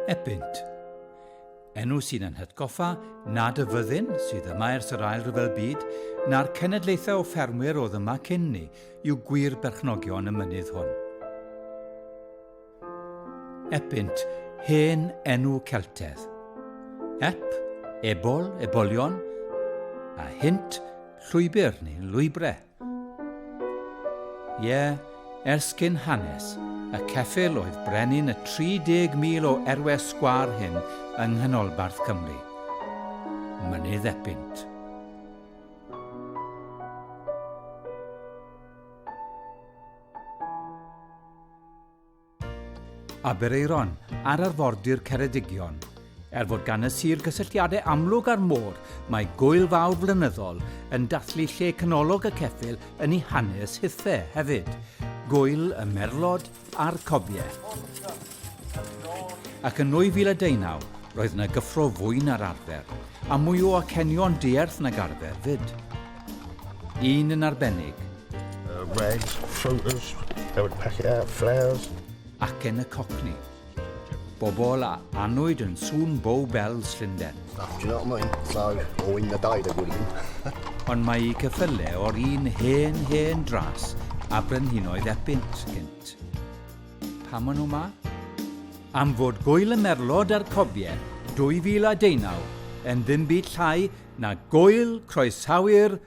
Ebynt. Enw sy'n yn hytgoffa nad y fyddin sydd yma ers yr ail rhyfel byd na'r cenedlaethau o ffermwyr oedd yma cyn ni yw gwir berchnogion y mynydd hwn. Epynt, hen enw Celtedd. Ep, ebol, ebolion, a hynt, llwybr neu lwybrau. Ie, yeah, ers cyn hanes, y ceffyl oedd brenin y 30,000 o erwe sgwar hyn yng Nghanolbarth Cymru. Mynydd Epynt. Aberaeron, ar arfordir Ceredigion. Er fod gan y sir gysylltiadau amlwg â'r môr, mae gwyl fawr flynyddol yn dathlu lle canolog y ceffyl yn ei hanes hithe hefyd. Gwyl y merlod a'r cobiau. Ac yn 2019, roedd yna gyffro fwy na'r arfer, a mwy o acenion dierth nag arfer fyd. Un yn arbennig, Regs, Fruiters, Newid Peckiau, Flares. Ac yn y Cockney. Bobol a anwyd yn sŵn Bow Bells Llundain. Stuff, do you know what I mean? So, o un na dau da gwir i Ond mae i cyffyle o'r un hen hen dras a brenhinoedd epynt gynt. Pam o'n nhw ma? Am fod Gwyl y Merlod a'r Cofiau 2019 yn ddim byd llai na Gwyl Croesawu'r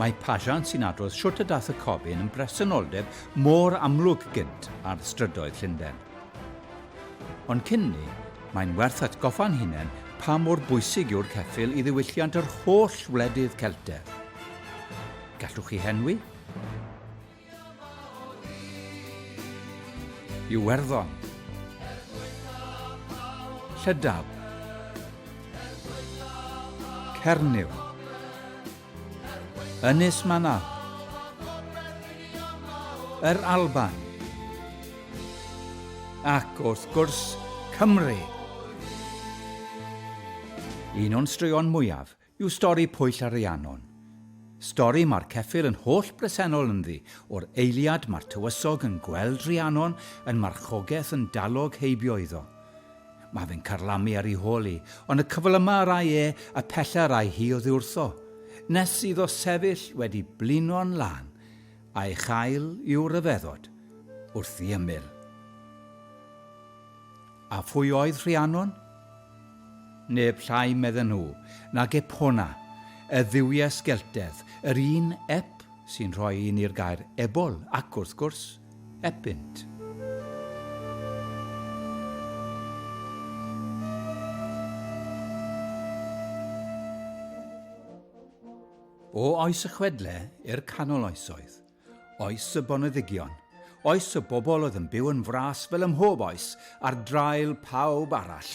Mae Pageant sy'n adrodd shwt y dath y Comin yn bresenoldeb mor amlwg gynt ar strydoedd Llundain. Ond cyn 'ny, mae'n werth atgoffa'n hunain pa mor bwysig yw'r ceffyl i ddiwylliant yr holl wledydd Celtaidd. Gallwch chi henwi? Iwerddon. Llydab. Cernyw. Ynys Manaw. Yr Alban. Ac wrth gwrs, Cymru! Un o'n straeon mwyaf yw stori Pwyll a Rhiannon. Stori mae'r ceffyl yn holl bresennol ynddi, o'r eiliad mae'r tywysog yn gweld Rhiannon yn marchogaeth yn dalog heibio iddo. Mae fe'n carlamu ar ei hol hi, ond y cyfl yma yr ai e y pella yr ai hi oddiwrtho, nes iddo sefyll wedi blino'n lân, a'i chael i'w ryfeddod wrth i ymyl. A phwy oedd Rhiannon? Neb llai, medden nhw, nag Epona, y dduwies Sgeltaidd, yr un Ep sy'n rhoi i ni'r gair ebol ac, wrth gwrs, epynt. O oes y chwedle i'r canol oesoedd. Oes y boneddigion, oes y bobl oedd yn byw yn fras fel ymhob oes ar draul pawb arall.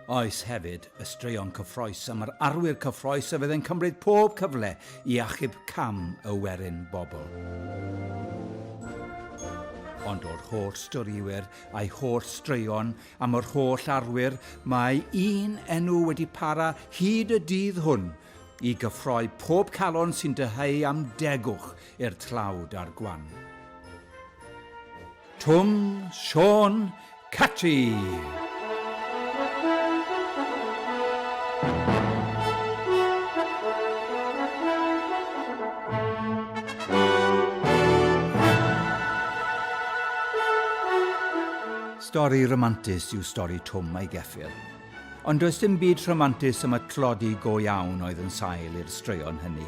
Oes hefyd y straeon cyffroes am yr arwyr cyffroes a fydd yn cymryd pob cyfle i achub cam y werin bobl. Ond o'r holl storiwyr a'i holl straeon am yr holl arwyr, mae un enw wedi para hyd y dydd hwn, i gyffroi pob calon sy'n dyheu am degwch i'r tlawd a'r gwan. Twm, Siôn, Catri! Stori romantus yw stori Twm a'i geffyl. Ond does dim byd rhamantus am y tlodi go iawn oedd yn sail i'r straeon hynny.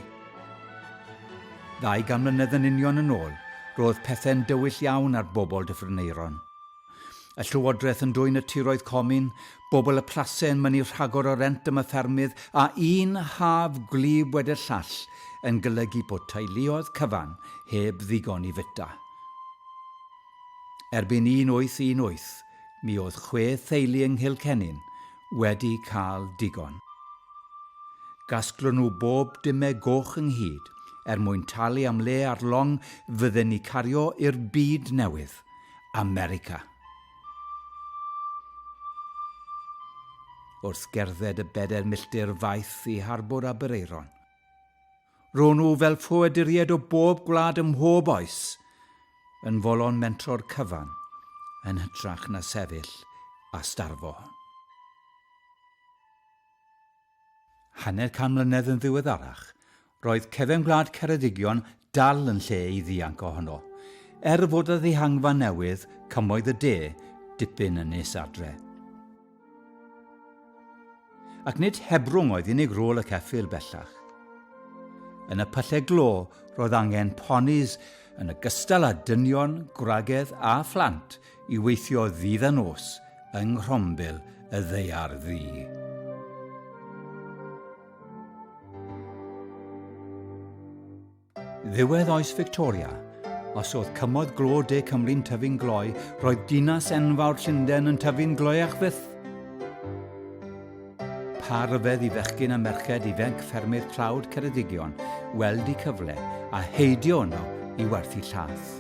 Ddau gan mlynedd yn union yn ôl, roedd pethau'n dywyll iawn ar bobl Dyffryneuron. Y llywodraeth yn dwyn y tiroedd comin, bobl y plase yn mynnu rhagor o rent am y ffermydd, a un haf gwlyb wedi'r llall yn golygu bod teuluoedd cyfan heb ddigon i fwyta. Erbyn 1818, mi oedd chwe theulu yng Nghilcennin wedi cael digon. Gasglon nhw bob dyme goch ynghyd er mwyn talu am le ar long fydden ni cario i'r byd newydd, America. Wrth gerdded y bedair milltir faeth i harbwr Aberaeron, Ro'n nhw fel ffoaduriaid o bob gwlad ym mhob oes, yn folon mentro'r cyfan, yn hytrach na sefyll a starfo. Hanner can mlynedd yn ddiweddarach, roedd cefn gwlad Ceredigion dal yn lle i ddianc ohono, er fod y ddihangfa newydd, Cymoedd y De, dipyn yn nes adre. Ac nid hebrwng oedd unig rôl y ceffyl bellach. Yn y pyllau glo, roedd angen ponis yn y gystal â dynion, gwragedd a phlant i weithio ddydd a nos yng nghrombil y ddeiar ddu. Ddiwedd oes Victoria, os oedd cymoedd glo de Cymru'n tyfu'n gloi, roedd dinas enfawr Llundain yn tyfu'n gloiach fyth. Pa ryfedd i fechgyn a merched ifanc ffermydd tlawd Ceredigion weld y cyfle a heidio yno i werthu llath.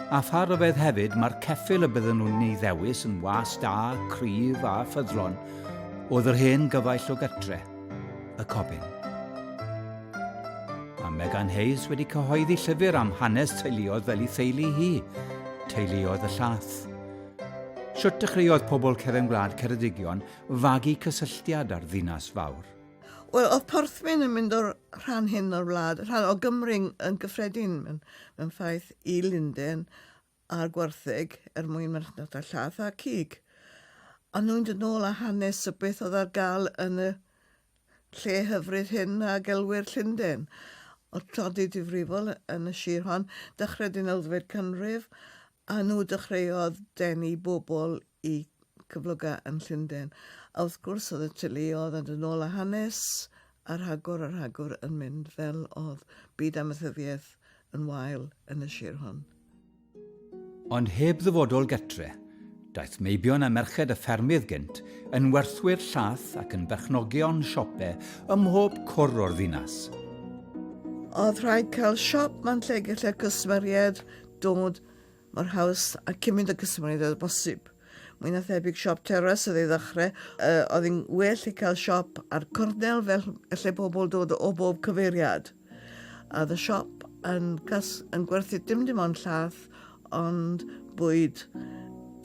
A pha ryfedd hefyd mae'r ceffyl y bydden nhw'n ei ddewis yn was da, cryf a ffyddlon oedd yr hen gyfaill o gytre. y Cobyn. Mae Megan Hayes wedi cyhoeddi llyfr am hanes teuluoedd fel ei theulu hi, teuluoedd y llath. Sut dechreuodd pobl cefn gwlad Ceredigion fagu cysylltiad â'r ddinas fawr? Wel, oedd Porthmyn yn mynd o'r rhan hyn o'r wlad, rhan o Gymru yn gyffredin mewn, mewn ffaith i Linden, a'r gwartheg er mwyn marchnata llath a cig. A nhw'n dod nôl a hanes o beth oedd ar gael yn y lle hyfryd hyn a gelwyr Llundain. Oedd tlodi difrifol yn y sir hon, dychred yn elfed canrif, a nhw dychreodd denu bobl i cyfloga yn Llundain. A wrth gwrs oedd y teuluodd yn dod ôl a hanes a rhagor a rhagor yn mynd fel oedd byd amaethyddiaeth yn wael yn y sir hon. Ond heb ddyfodol getre, daeth meibion a merched y ffermydd gynt yn werthwyr llath ac yn berchnogion siope ym mhob cwr o'r ddinas. Oedd rhaid cael siop man lle gallai'r cwsmeriaid dod mor haws a cymryd y cysmoniaid â bosib. Mwy na thebyg siop teras oedd ei ddechrau. Uh, oedd yn well i cael siop ar cornel fel lle pobl dod o bob cyfeiriad. A oedd y siop yn, gas, yn gwerthu dim dim ond llath, ond bwyd,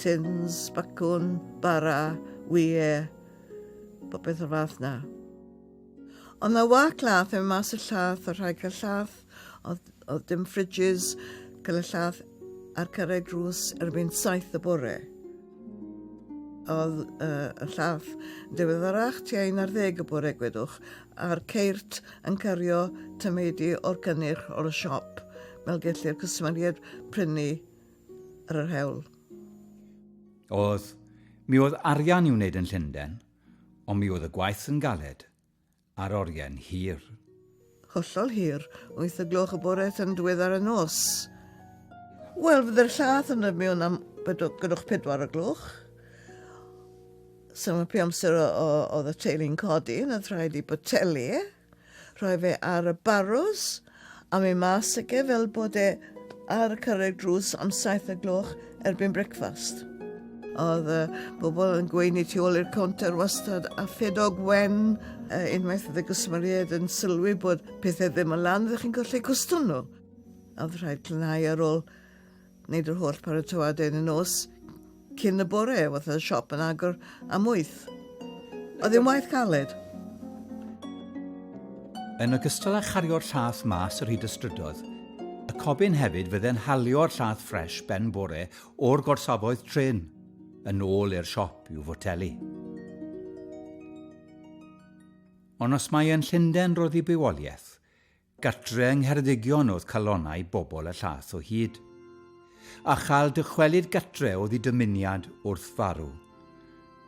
tins, bacwn, bara, wie, popeth o'r fath na. Ond na wac lath yn mas y llath, y rhaid cael llath Oedd, oedd dim fridges, cael y lladd a'r cyrraedd drws erbyn saith y bore. Oedd uh, y lladd diweddarach tua un ar ddeg y bore gwedwch, a'r ceirt yn cario tymeidi o'r cynnyrch o'r siop, fel gellir cwsmeriaid prynu ar yr hewl. Oedd, mi oedd arian i'w wneud yn Llundain, ond mi oedd y gwaith yn galed, ar orien hir. Hollol hir, wyth y gloch y bore tan diweddar y nos. Wel, fydde'r llath yn y miwn am gynnwch pedwar o gloch. Symud pe amser oedd y teulu'n codi, na rhaid i boteli, rhoi fe ar y barws, Am ei mas ac e fel bod e ar y cyrraedd drws am saith y gloch erbyn brecfast. Oedd y bobl yn gweini tu ôl i'r counter wastad a ffedog wen uh, unwaith oedd y gwsmeriaid yn sylwi bod pethau ddim yn lan, ydych chi'n colli cwstwm nhw. A oedd rhaid clynhau ar ôl Wneud yr holl paratoadau yn y nos cyn y bore, oedd y siop yn agor am wyth. Oedd yn waith caled. Yn ogystal â chario'r llath mas yr hyd y strydoedd, y cobyn hefyd fydde'n halio'r llath ffres ben bore o'r gorsafoedd trin, yn ôl i'r siop i'w fotelu. Ond os mae yn Llundain roedd i bywoliaeth, Gartre yng Ngheredigion oedd calonnau bobl y llath o hyd. A chael dychwelyd gartre oedd i dymuniad wrth farw.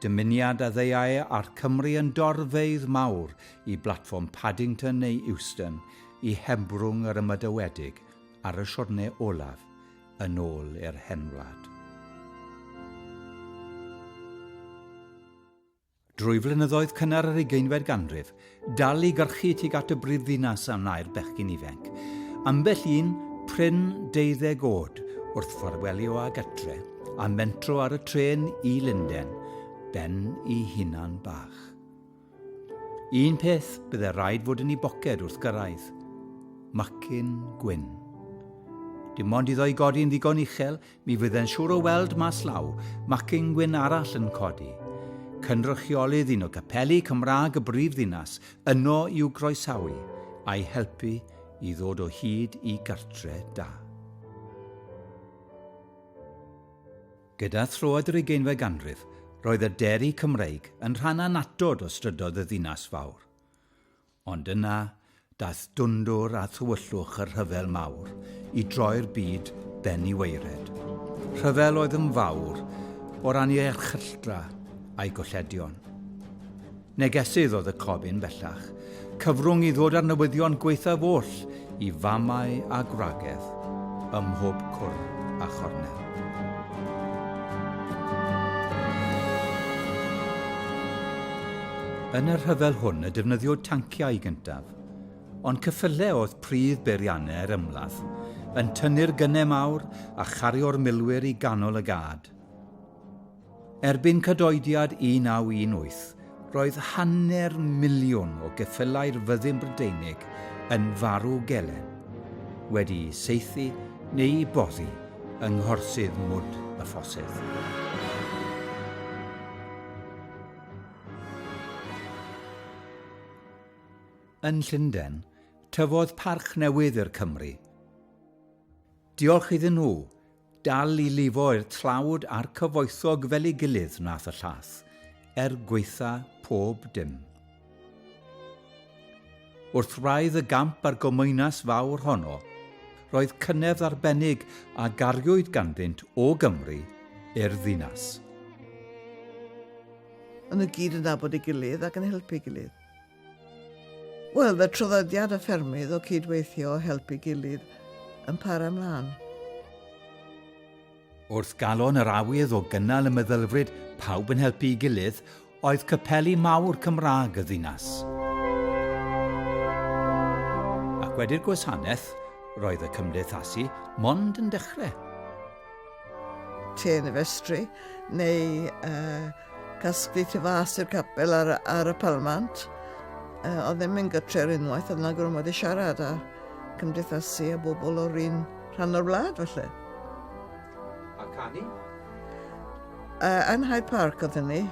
Dymuniad a ddeuai a'r Cymry yn dorfeydd mawr i blatfform Paddington neu Euston i hebrwng yr ymadawiedig ar y siwrne olaf yn ôl i'r hen wlad. Drwy flynyddoedd cynnar yr ugeinfed ganrif, dal i gyrchu tuag at y brifddinas a wnae'r bechgyn ifainc. Ambell un, prin deuddeg oed, wrth ffarwelio â gartre, a mentro ar y trên i Lunden, ben i hunan bach. Un peth bydde rhaid fod yn ei boced wrth gyrraedd. Macyn gwyn. Dim ond iddo i godi'n ddigon uchel, Mi fydd e'n siŵr o weld mas law, macin gwyn arall yn codi. Cynrychiolydd un o gapeli Cymraeg y brifddinas yno i'w groesawu, a'i helpu i ddod o hyd i gartre da. Gyda throed yr ugeinfed ganrif, roedd y deri Cymreig yn rhan annatod o strydoedd y ddinas fawr. Ond yna, daeth dwndwr a thywyllwch y Rhyfel Mawr i droi'r byd ben i waered. Rhyfel oedd yn fawr o ran ei erchylltra a'i golledion. Negesydd oedd y cofyn, bellach, cyfrwng i ddod â'r newyddion gwaethaf oll i famau a gwragedd ym mhob cwr a chornel. Yn y rhyfel hwn y defnyddiwyd tanciau gyntaf, ond cyffyle oedd pridd beiriannau'r ymladd, yn tynnu'r gynnau mawr a chario'r milwyr i ganol y gad. Erbyn cydoediad 1918, roedd hanner miliwn o geffylau'r Fyddin Brydeinig yn farw gelen, wedi'u saethu neu'u boddi yng nghorsydd mwd y ffosydd. Yn Llundain, tyfodd parch newydd i'r Cymry. Diolch iddyn nhw, Dal i lifo'r tlawd a'r cyfoethog fel ei gilydd wnaeth y llath, er gwaetha pob dim. Wrth wraidd y gamp a'r gomaenas fawr honno, roedd cynefdd arbennig a gariwyd ganddynt o Gymru i'r ddinas. O'n nhw gyd yn nabod ei gilydd ac yn helpu ei gilydd. Wel, fe traddodiad y ffermydd o cyd-weithio a helpu gilydd yn para mlaen. Wrth galon yr awydd o gynnal y meddylfryd 'pawb yn helpu'i gilydd' oedd capeli mawr Cymraeg y ddinas. Ac wedi'r gwasanaeth, roedd y cymdeithasu mond yn dechrau. Trên y festri, neu uh, casglu tu fas i'r capel ar, ar y palmant. Uh, oedd ddim yn gytre ar unwaith, oedd yna gormod i siarad a cymdeithasu a bobl o'r un rhan o'r wlad felly. A canu? Uh, yn Hyde Park oedd hynny,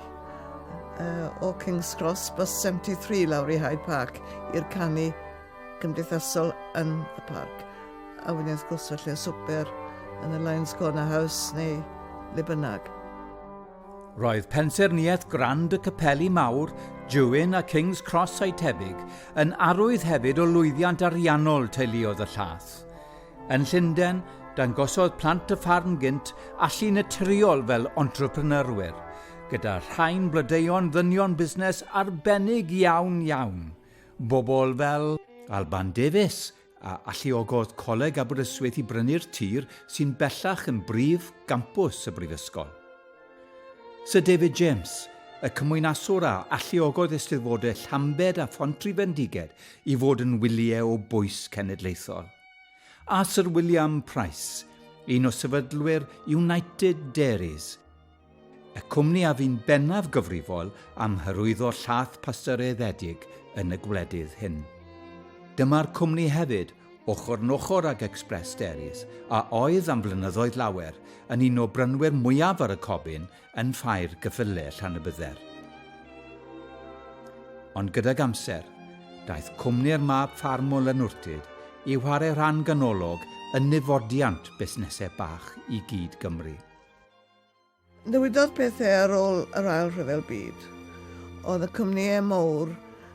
uh, o King's Cross, bus 73 lawr i Hyde Park i'r canu cymdeithasol yn y parc. A wedyn wrth gwrs felly y swper yn y Lions Corner House neu le bynnag. Roedd pensaerniaeth Grand y Capeli Mawr, Jewin a King's Cross a'i tebyg yn arwydd hefyd o lwyddiant ariannol teuluodd y llath. Yn Llundain, dangosodd plant y ffarm gynt allu naturiol fel entrepreneurwyr, gyda rhain blodeuo'n ddynion busnes arbennig iawn iawn. Bobl fel Alban Davies, a alluogodd Coleg Aberystwyth i brynu'r tir sy'n bellach yn brif gampws y Brifysgol. Sir David James, y cymwynaswr a alluogodd Eisteddfodau Llambed a Phontryfendiged i fod yn wyliau o bwys cenedlaethol. A Sir William Price, un o sefydlwyr United Dairies, Y cwmni a fu'n bennaf gyfrifol am hyrwyddo llaeth pasteuryddiedig yn y gwledydd hyn. Dyma'r cwmni hefyd, ochr yn ochr ag Express Dairies, a oedd am flynyddoedd lawer yn un o brynwyr mwyaf ar y cobyn yn ffair gyffyle Llanybydder. Ond gydag amser, daeth cwmni'r mab ffarm o Lanwrtyd i whare rhan ganolog yn niddfodiant busnesau bach i gyd Gymru. Ddywedodd pethau ar ôl yr Ail Rhyfel Byd. Oedd y cwmnïau mawr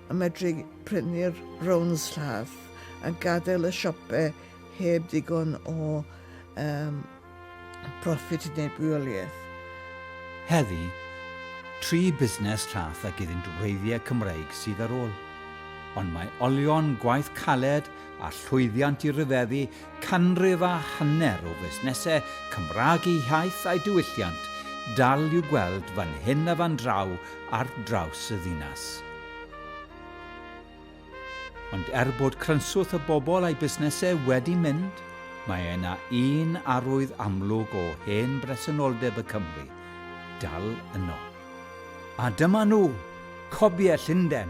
yn medru prynu'r rowns llath a gadael y siopau heb ddigon o um, profit i wneud bwyoliaeth. Heddi, tri busnes llath ag iddynt wreiddiau Cymreig sydd ar ôl. Ond mae olion, gwaith caled a llwyddiant i ryfeddu Canrif a hanner o fusnesau Cymraeg eu hiaith a'u diwylliant dal i'w gweld fan hyn a fan draw ar draws y ddinas. Ond er bod crynswth y bobl a'i busnesau wedi mynd, mae yna un arwydd amlwg o hen bresenoldeb y Cymry dal yno. A dyma nhw, cobiau Llundain!